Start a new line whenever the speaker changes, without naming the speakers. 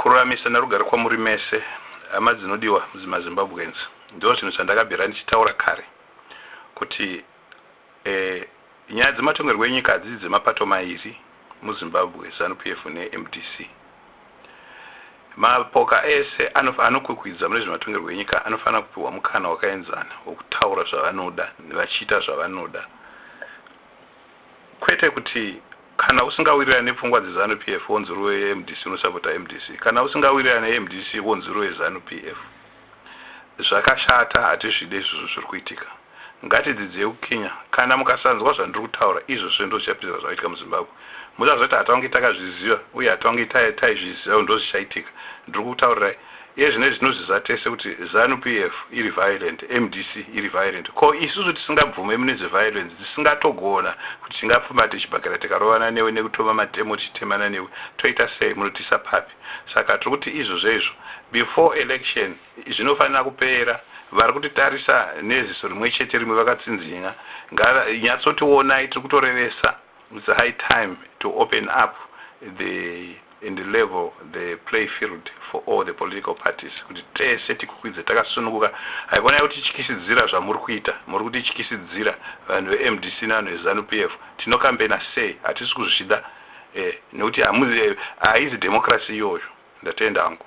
Kururamisa nerugare kwamuri mese hama dzinodiwa maZimbabweans ndozvinhu zvandakabvira ndichitaura kare kuti eh, nyaya dzematongerwo enyika hadzisi dzemapato mairi muzimbabwe zanupf nemdc mapoka ese anokwikwidza mune zvematongerwo enyika anofanira kupiwa mukana wakaenzana wekutaura zvavanoda vachiita zvavanoda Kwete kuti kana usingawirirane nepfungwa dzeZanu PF wonzurwe mdc unosapota mdc kana usingawirirane nemdc wonzurwe Zanu PF. Zvakashata hatizvide izvozvo zviri kuitika. Ngatidzidzei kukinya. Kana mukasanzwa zvandiri kutaura izvozvo ndozvichapedzisira zvakaitika muZimbabwe. Musazoti hatange takazviziva uye hatange taizviziva kuti ndozvichaitika. Ndiri kukutaurirai. Iye zvino tinozviziva tese kuti Zanu PF iri violent, mdc iri violent ko isusu tisingabvume mune zve violence tisingatogona kuti tingapfumbate chibhakera tikarovana newe nekutoma matemo tichitemana newe toita sei munotiisa papi saka tiri kuti izvozvezvo before election zvinofanira kupera vari kutitarisa neziso rimwechete rimwe vakatsinzinya ngava nyatsotionai tiri kutorevesa It's high time to open up the and level the play field for all the political parties kuti tese tikukwidze takasununguka haikona yekutityisidzira zvamuri kuita muri kutityisidzira vanhu vemdc nevanhu vezanu pf tinokambena sei hatisi kuzvida eh, nekuti haizi democracy iyoyo ndatenda hangu